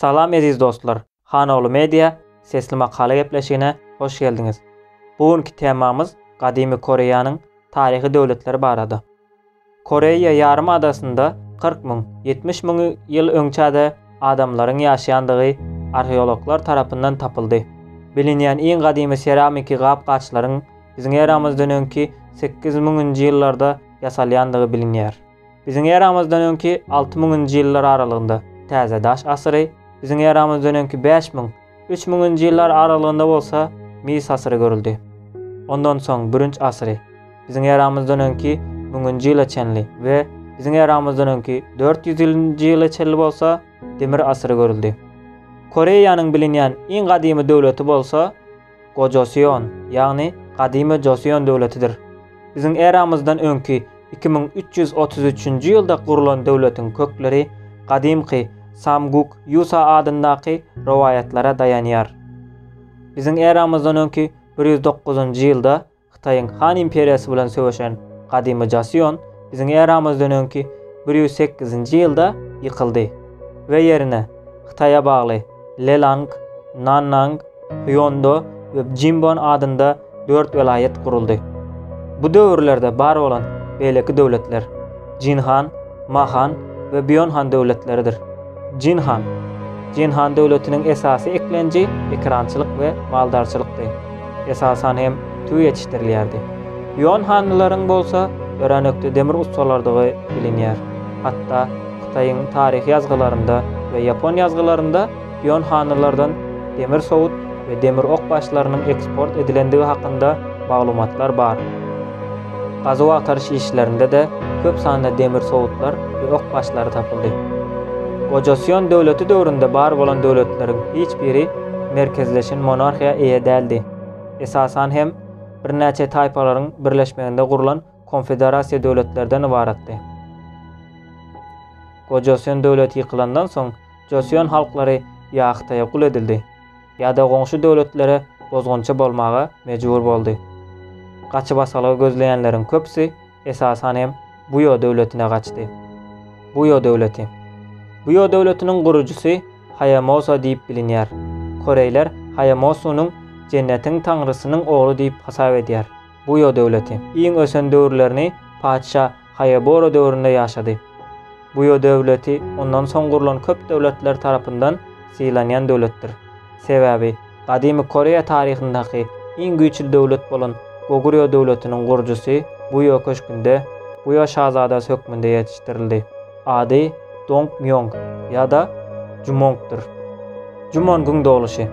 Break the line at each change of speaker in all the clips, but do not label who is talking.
Salam eziz dostlar! Hanoglu Media sesli makala gepleşigine hoş geldiňiz. Bu günki temamyz gadymy Koreýanyň taryhy döwletleri barada. Koreýa ýarym adasynda kyrk müň, ýetmiş müň ýyl öňçä-de adamlaryň ýaşaýandygy arheologlar tarapyndan tapyldy. Bilinýän iň gadymy seramiki gap-gaçlaryň biziň eramyzdan öňki sekiz müňünji ýyllarda ýasalýandygy bilinýär. Biziň eramyzdan öňki alty müňünji ýyllar aralygynda Täze daş asyry, biziň eramyzdan öňki bäş müň, üç müňünji ýyllar aralygynda bolsa mis asyry görüldi. Ondan soň bürünç asyry, biziň eramyzdan öňki müňünji ýyla çenli we biziň eramyzdan öňki dört ýüzünji ýyla çenli bolsa demir asyry görüldi. Koreýanyň bilinýän iň gadymy döwleti bolsa, Gojoseon, ýagny Gadymy Joseon döwletidir. Biziň eramyzdan öňki iki müň üç ýüz otuz üçünji ýylda gurulan döwletiň kökleri gadymky Samguk Ýusa adyndaky rowaýatlara daýanýar. Biziň eramyzdan öňki bir ýüz dokuzynjy ýylda Hytaýyň Han imperiýasy bilen söweşen gadymy Joseon biziň eramyzdan öňki bir ýüz sekizinji ýylda ýykyldy we ýerine Hytaýa bagly Lelang, Nannang, Hýondo we Bjimbon adynda dört welaýat guruldy. Bu döwürlerde bar bolan beýleki döwletler. Jin han, Ma han we Býon han döwletleridir. Jin han. Jin han döwletiniň esasy eklenji ekerançylyk we maldarçylykdy. Esasan hem tüwi ýetişdirilýärdi. Býon hanlylaryň bolsa öränekde demir ussalarydygy bilinýär. Hatda Hytaýyň taryhy ýazgylarynda we ýapon ýazgylarynda Ýon hanylardan demir sowut we demir ok başlarynyň eksport edilendigi hakynda maglumatlar bar. Gazuw-agtaryş işlerinde-de köp sanda demir sowutlar we ok başlary tapyldy. Gojasion döwleti döwründe bar bolan döwletleriň hiç biri merkezleşen monarhiýa eýe däldi. Esasan hem, birnäçe taýpalaryň birleşmeginde gurlan konfederasiýa döwletlerden ybaratdy. Gojasion döwleti ýykylandan soň, Joseon halklary ýa Hytaýa gul edildi, ýa-da goňşy döwletlere bozgunçy bolmaga mejbur boldy. Gaçybasalgy gözleýänleriň köpüsi esasan hem Buýo döwletine gaçdy. Buýo döwleti. Buýo döwletiniň gurujysy Haýamosa diýip bilinýär. Koreýler Haýamosunyň Jennetiň taňrysynyň ogly diýip hasap edýär. Buýo döwleti. Iň ösen döwürlerini patyşa Haýabora döwründe ýaşady. Buýo döwleti ondan soň gurlan köp döwletler tarapyndan sylanýan döwletdir. Sebäbi gadymy Koreýa taryhyndaky iň güýçli döwlet bolan Gogurýo döwletiniň gurujysy Buýo köşgünde Buýo şazadasy hökmünde ýetişdirildi. Ady Dong Mýong ýa-da Jumongdyr. Jumongyň dogluşy.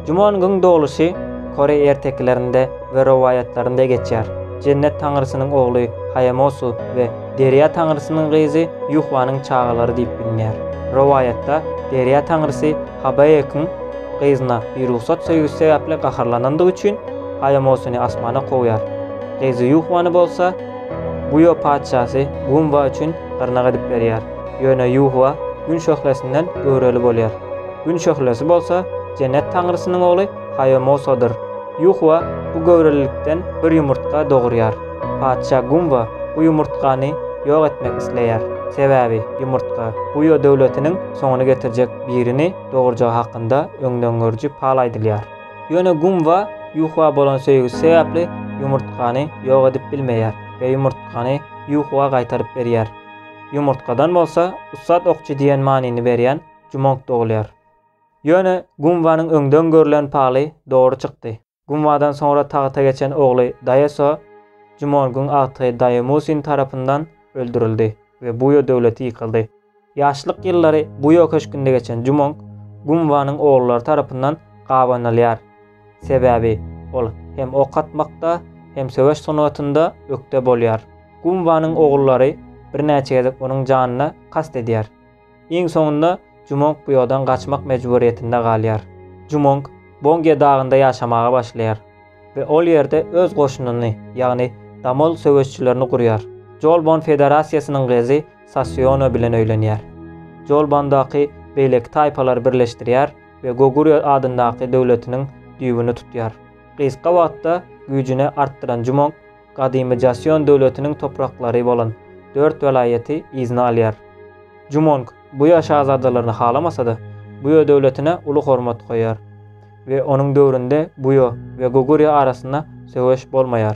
Jumongyň dogluşy koreý ertekilerinde we rowaýatlarynda geçýär. Jennet taňrysynyň ogly Haýamosu we Derýa taňrysynyň gyzy Ýuhwanyň çagalary diýip bilinýär. Rowaýatda Derýa taňrysy Habaekyň gyzyna birugsat söýgüsi sebäpli gaharlanandygy üçin Haýamosuny asmana kowýar. Gyzy Ýuhwany bolsa, Buýa patyşasy Gumba üçin gyrnak edip berýär, ýöne Ýuhwa Gün şöhlesinden göwreli bolýar. Gün şöhlesi bolsa Jennet taňrysynyň ogly Haýomosodyr. Ýuhwa bu göwrelilikden bir ýumurtga dogurýar. Patyşa Gumba bu ýumurtgany ýok etmek isleýär, sebäbi ýumurtga Buýa döwletiniň soňuny getirjek birini dogurjagy hakynda öňdengörüji pal aýdylýar. Ýöne gumba ýuhwa bolan söýgüsi sebäpli ýumurtgany ýok edip bilmeýär we ýumurtgany ýuhwa gaýtaryp berýär. Ýumurtgadan bolsa ussat okçy diýen manyny berýän Jumong dogulýar. Ýöne gumbanyň öňden görlen paly dogry çykdy. Gumbadan soňra tagta geçen ogly Daýeso Jumongyň agtygy Daýemusin tarapyndan öldürildi we Buýo döwleti ýykyldy. Ýaşlyk ýyllary Buýo köşgünde geçen Jumong Gunwanyň ogullary tarapyndan gabanylýar. Sebäbi ol hem ok atmakda, hem söweş sungatynda ökde bolýar. Gunwanyň ogullary birnäçe gezek onuň janyna kast edýär. Iň soňunda Jumong Buýodan gaçmak mejburyýetinde galýar. Jumong Bongýe dagynda ýaşamaga başlaýar we ol ýerde öz goşunyny, ýagny Damol söweşçilerini gurýar. Jolbon federasiýasynyň gyzy Sasiona bilen öýlenýär. Jolbandaky beýleki taýpalary birleşdirýär we Gogurýo adyndaky döwletiniň düýbüni tutýar. Gysga wagtda güýjüni artdyran Jumong gadymy Jasion döwletiniň topraklary bolan dört welaýaty yzyna alýar. Jumong Buýa şazadalaryny halamasa-da, Buýo döwletine uly hormat goýýar we onuň döwründe Buýo we Gogurýo arasynda söweş bolmaýar.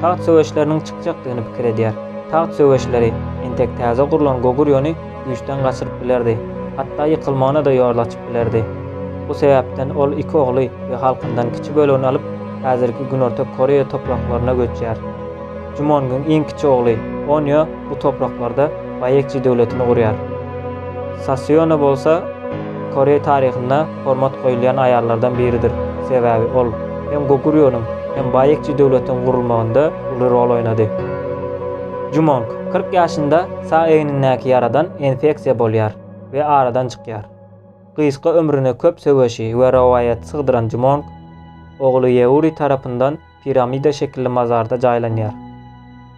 Tagt söweşleriniň çykjakdygyny pikir edýär. Tagt söweşleri entek täze gurlan Gogurýony güýçden gaçyryp bilerdi, hatda ýykylmagyna-da ýol açyp bilerdi. Bu sebäpden ol iki ogly we halkyndan kiçi bölegini alyp, häzirki Günorta Koreýa topraklaryna göçýär. Jumonyň iň kiçi ogly Onýo bu topraklarda Baýekji döwletini gurýar. Saseona bolsa Koreý taryhynda hormat goýulýan aýallardan biridir, sebäbi ol hem Goguryonyň, hem Baýekçi döwletiniň gurulmagynda uly rol oýnady. Jumong kyrk ýaşynda sag egnindäki ýaradan infeksiýa bolýar we aradan çykýar. Gysga ömrüne köp söweşi we rowaýaty sygdyran Jumong, ogly Ýeuri tarapyndan piramida şekilli mazarda jaýlanýar.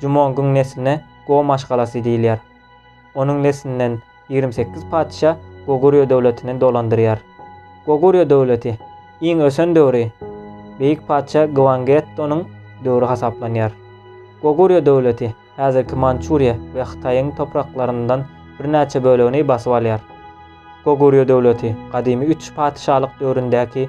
Jumongyň nesline Go maşgalasy diýilýär. Onuň neslinden ýigrimi sekiz patyşa Gogurýo döwletini dolandyrýar. Gogurýo döwleti iň ösen döwri beýik patyşa Gwangettonyň döwri hasaplanýar. Gogurýo döwleti häzirki Mançuriýa we Hytaýyň topraklaryndan birnäçe bölegini basyp alýar. Gogurýo döwleti gadymy üç patyşalyk döwründäki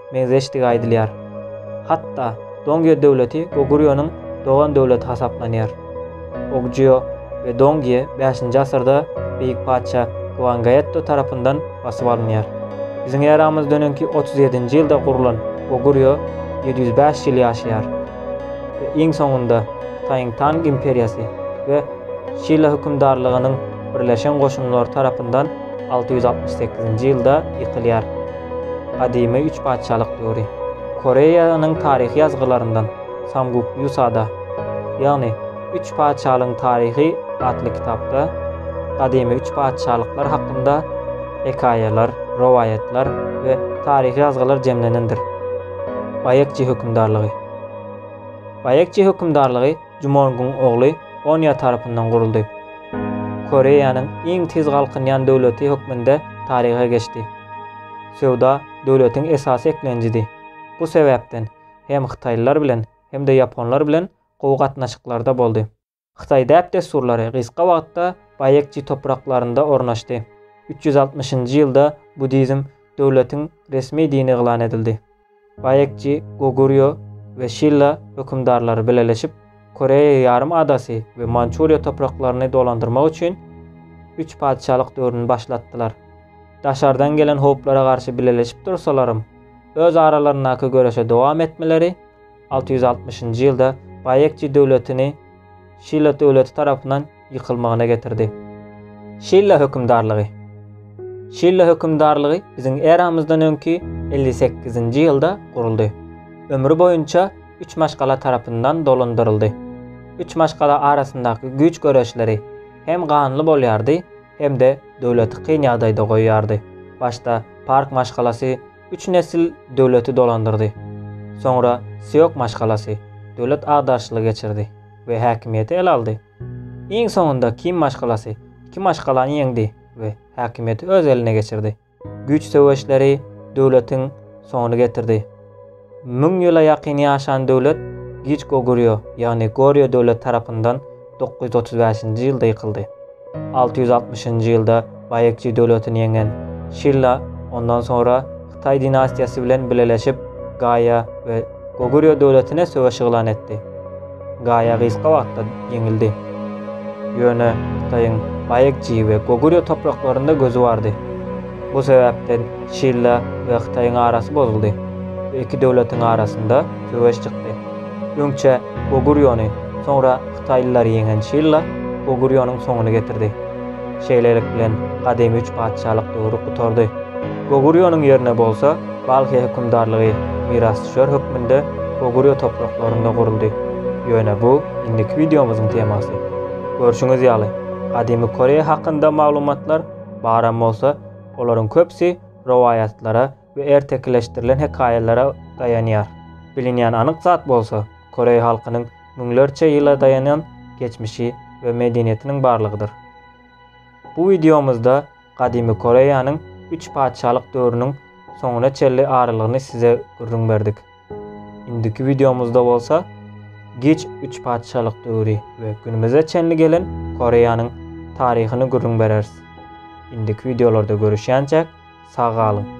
meňzeşdigi aýdylýar. Hatda Dongýo döwleti Gogurýonyň dogan döwleti hasaplanýar. Ogjuo we Dongýe bäşinji asyrda beýik patyşa Gwangaetto tarapyndan basyp alynýar. Biziň eramyzdan öňki otuz ýedinji ýylda gurlan Gogurýo ýedi ýüz bäş ýyl ýaşaýar we iň soňunda Hytaýyň Tang imperiýasy we Şila hökümdarlygynyň birleşen goşunlary tarapyndan alty ýüz altmyş sekizinji ýylda ýykylýar. Gadymy üç patyşalyk döwri. Koreýanyň taryhy ýazgylaryndan Samguk Ýusada, ýagny Üç patyşalygyň taryhy atly kitapda gadymy üç patyşalyklar hakynda hekaýalar, rowaýatlar we taryhy ýazgylar jemlenendir. Baekje hökümdarlygy. Baekje hökümdarlygy Jumong-uň ogly Onya tarapyndan guruldy. Koreýanyň iň tiz galkynýan döwleti hökmünde taryha geçdi. Söwda döwletiň esasy eklenjidi. Bu sebäpden hem hytaýlylar bilen hem-de ýaponlar bilen gowy gatnaşyklarda boldy. Hytaý däp-dessurlary gysga wagtda Baýekji topraklarynda ornaşdy. Üç ýüz altmyşynjy ýylda buddizm döwletiň resmi dini yglan edildi. Baekji, Gogurýo we Şilla hökümdarlary bileleşip, Koreýa ýarym adasy we Mançuriýa topraklaryny dolandyrmak üçin Üç patyşalyk döwrüni başlatdylar. Daşardan gelen howplara garşy bileleşip dursalaram, öz aralaryndaky göreşe dowam etmeleri Alty ýüz altmyşynjy ýylda Baýekji döwletini Şilla döwleti tarapyndan ýykylmagyna getirdi. Şilla hökümdarlygy Şilla hökümdarlygy biziň eramyzdan öňki elli sekizinji ýylda guruldy. Ömri boýunça üç maşgala tarapyndan dolandyryldy. Üç maşgala arasyndaky güýç göreşleri hem ganly bolýardy, hem-de döwleti kyn ýagdaýda goýýardy. Başda Park maşgalasy Üç nesil döwleti dolandyrdy. Soňra Siok maşgalasy döwlet agdaryşyny geçirdi we häkimiýeti ele aldy. Iň soňunda Kim maşgalasy iki maşgalany ýeňdi we häkimiýeti öz eline geçirdi. Güýç söweşleri döwletiň soňuny getirdi. Müň ýyla ýakyn ýaşan döwlet Giç Gogurýo, ýagny Gorýo döwleti tarapyndan Dokuz ýüz otuz bäşinji ýylda ýykyldy. Alty ýüz altmyşynjy ýylda Baýekji döwletini ýeňen Şilla ondan soňra Hytaý dinastiýasy bilen bileleşip Gaýa we Gogurýo döwletine söweş yglan etdi. Gaýa gysga wagtda ýeňildi. Ýöne Hytaýyň Baýekji we Gogurýo topraklarynda gözi bardy. Bu sebäpden Şilla we Hytaýyň arasy bozuldy we iki döwletiň arasynda söweş çykdy. Öňçe Gogurýony, soňra hytaýlylar ýeňen Şilla Gogurýonyň soňuny getirdi. Şeýlelik bilen gadymy üç patyşalyk döwri gutardy. Gogurýonyň ýerine bolsa Balhy hökümdarlygy mirasdüşer hökmünde Gogurýo topraklarynda guruldy. Ýöne bu indiki wideomyzyň temasy. Görşüňiz ýaly, gadymy Koreýa hakynda maglumatlar baram bolsa, olaryň köpüsi rowaýatlara we ertekileşdirilen hekaýalara daýanýar. Bilinýän anyk zat bolsa, koreý halkynyň müňlerçe ýyla daýanan geçmişi we medeniýetiniň barlygydyr. Bu wideomyzda gadymy Koreýanyň üç patyşalyk döwrüniň soňuna çenli aralygyny size gürrüň berdik. Indiki wideomyzda bolsa geç üç patyşalyk döwri we günümize çenli gelen Koreýanyň taryhyny gürrüň bereris. Indiki wideolarda görüşýänçäk sag galyň.